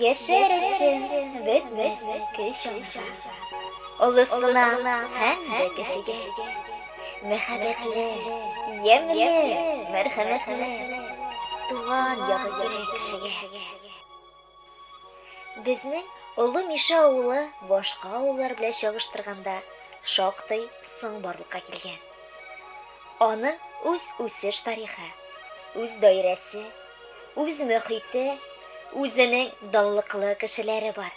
Яшәр өчен бетмәс көч аңа. Олысына һәм дә кечегә. Мәхәббәтле, ямьле, мәрхәмәтле. Туган ягы кирәк кешегә. Безнең Олы Мишә авылы башка авыллар белән чагыштырганда шактый соң барлыкка килгән. Аның үз үсеш тарихы, үз даирәсе, үз мөхите, үзенең данлыклы кешеләре бар.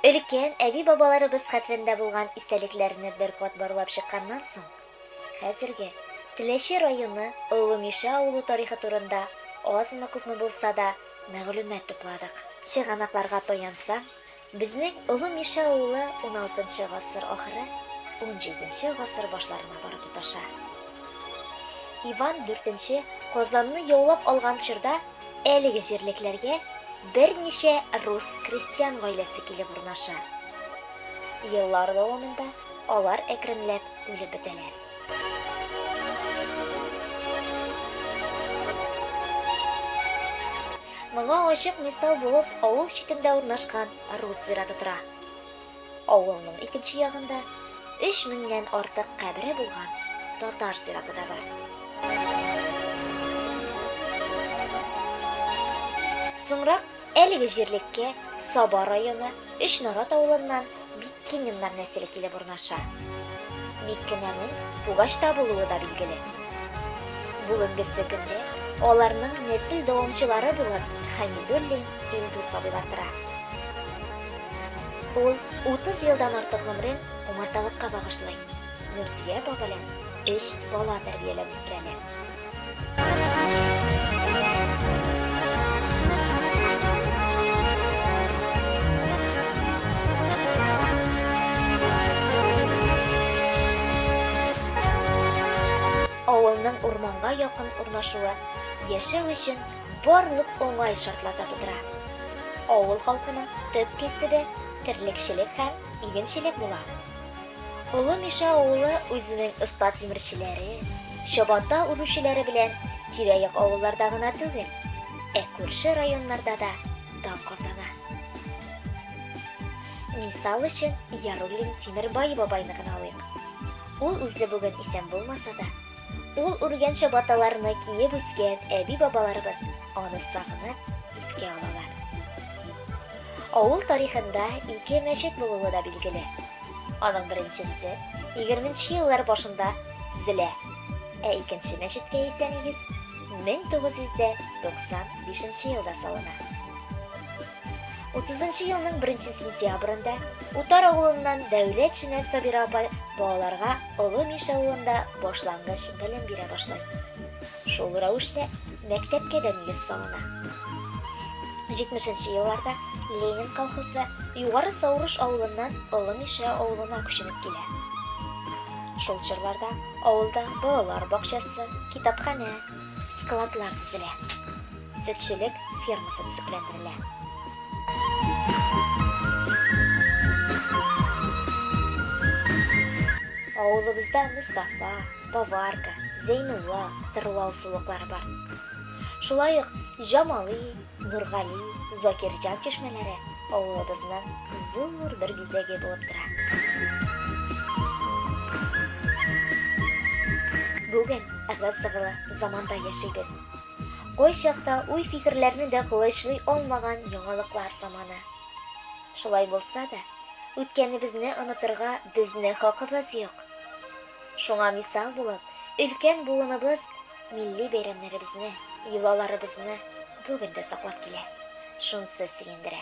Өлкән әби-бабаларыбыз хәтерендә булган истәлекләрне бер кат барлап чыкканнан соң, хәзерге Теләче районы Олы Мишә авылы тарихы турында азмы-күпме булса да мәгълүмат тупладык. Чыганакларга таянсаң, Безнең Олы Мишә авылы уналтынчы гасыр ахыры, унҗиденче гасыр башларына барып тоташа. Иван дүртенче Казанны яулап алган чорда әлеге җирлекләргә берничә рус крестьян гаиләсе килеп урнаша. Еллар дәвамында алар әкренләп үлеп бетәләр. Моңа ачык мисал булып авыл читендә урнашкан Рус зираты тора. Авылның икенче ягында өч меңнән артык кабере булган татар зираты да бар. Соңрак әлеге җирлеккә Саба районы, Өч нарат авылыннан Миккининнар нәселе килеп урнаша. Миккинәнең Пугачта булуы да билгеле. Бүгенгесе көндә аларның нәсел дәвамчылары булып Хәмидуллин Илдус абыйлар тора. Ул 30 елдан артык гомерен умарталыкка багышлый, Нурзия апа белән өч бала тәрбияләп үстерәләр. Авылның урманга якын урнашуы яшәү өчен барлык уңай шартлар да тудыра. Авыл халкының төп кәсебе, терлекчелек һәм игенчелек була. Олы Мишә авылы үзенең оста тимерчеләре, чабата үрүчеләре белән тирә-як авылларда гына түгел, ә күрше районнарда да дан казана. Мисал өчен, Яруллин Тимербаева байны гына алыйк. Ул үзе бүген исән булмаса да, Ул үргән чабаталарны киеп үскән әби-бабаларыбыз аны сагынып искә алалар. Авыл тарихында ике мәчет булуы да билгеле. Аның беренчесе 20 нче еллар башында төзелә, ә икенче мәчеткә исә нигез 1995 елда салына. Утызынчы елның беренче сентябрендә Утар авылыннан Дәүләт Шенә Сабира апа балаларга Олы Миш авылында башлангыч белем бирә башлый. Шул рәвешле мәктәпкә дә нигез салына. Җитмешенче елларда Ленин колхозы Югары Саурыш авылыннан Олы Мишә авылына күченеп килә. Шул чорларда авылда балалар бакчасы, китапханә, складлар төзелә. Сөтчелек фермасы төзекләндерелә. Авылыбызда Мустафа, Поварка, Зәйнулла тырлау сулыклары бар. Шулай ук Җамали, Нургали, Закирҗан чишмәләре авылыбызның зур бер бизәге булып тора. Бүген ыгы-зыгылы заманда яшибез. Кайчакта уй-фикерләрне дә колачлый алмаган яңалыклар заманы. Шулай булса да, үткәнебезне онытырга безне хакыбыз юк. Шуңа мисал булып, өлкән буыныбыз милли бәйрәмнәребезне, йолаларыбызны бүген дә саклап килә. Шунсы сөендерә.